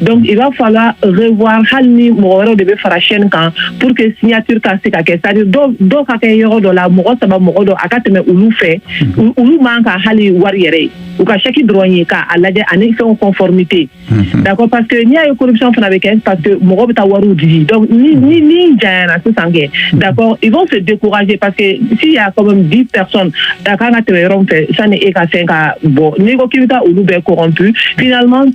donc il va falloir revoir hali ni mɔgɔ wɛrɛw de bɛ fara chaîne kan pour que signature ka se ka kɛ c'est à dire dɔw dɔw ka kɛ yɔrɔ dɔ la mɔgɔ saba mɔgɔ dɔ a ka tɛmɛ olu fɛ u- olu man ka hali wari yɛrɛ ye u ka chèque dɔrɔn ye k'a lajɛ ani fɛnw conformité d'accord parce que n'i y'a ye corruption fana bɛ kɛ parce que mɔgɔ bɛ taa wariw di donc ni ni ni janyana sisan kɛ d'accord ils vont se décourager parce que s'il y a quand même 10 personnes a kan ka tɛmɛ yɔrɔ min fɛ sani e ka fɛn ka bɔ n'i ko k'i bɛ taa olu bɛɛ corrompu finalement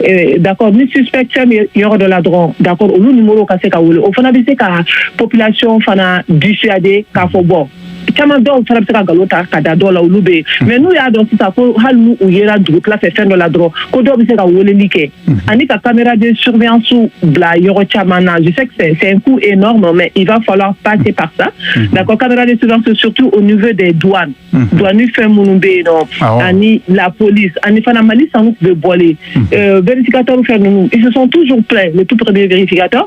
eh, d'accord ni suspect fɛn bɛ yɔrɔ dɔ la dɔrɔn d'accord olu numéro ka se ka wele o fana bɛ se ka population fana dissuader k'a fɔ bon caman dɔw fana bɛ se ka nkalon ta ka da dɔw la olu bɛ yen hmm. mais n'u y'a dɔn sisan ko hali n'u u yera dugutila fɛ fɛn dɔ la dɔrɔn ko dɔw bɛ se ka weleli kɛ hmm. ani ka caméra de surveillance bila yɔrɔ caman na je sais que c'est un coût énorme mais il va falloir passer par ça hmm. d'accord caméra de surveillance surtout au niveau des douanes Dɔnni fɛn minnu bɛ yen nɔ ani la polili ani fana mali san tun bɛ bɔlen bereerekaka fɛn ninnu sɔn tu tutigɛkata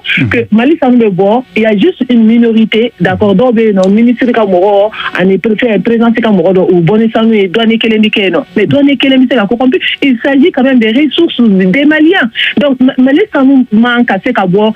mali san bɛ bɔ yanji min tɛ dakɔ dɔw bɛ yen nɔ minisiri ka mɔgɔ ani pere perese ka mɔgɔ dɔn u bɔ sanu ye dɔnni kelen bɛ kɛ yen nɔ mɛ dɔn kelen bɛ se ka sanji ka su denbaliya mali san man ka se ka bɔ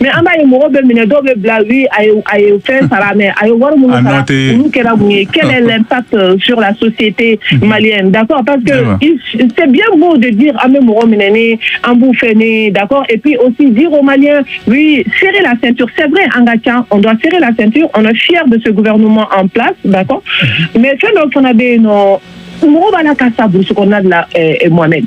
mɛ an b'a ye mɔgɔ bɛ minɛ dɔw bɛ bila a ye fɛn sara mɛ a ye wari minnu olu kɛra mun ye kɛlɛ lɛnta sula sosite mali da paseke sɛ b'o de di an bɛ mɔgɔ minɛ ni an b'u fɛ ni da ep o si di o mali sɛbɛn la sɛ sɛbɛn an ka ca o sɛbɛn la sɛti o siya bɛ se guma an fila da mɛ fɛn dɔ fana bɛ yen nɔ mɔgɔ b'a la ka sa bukla la mɔnɛ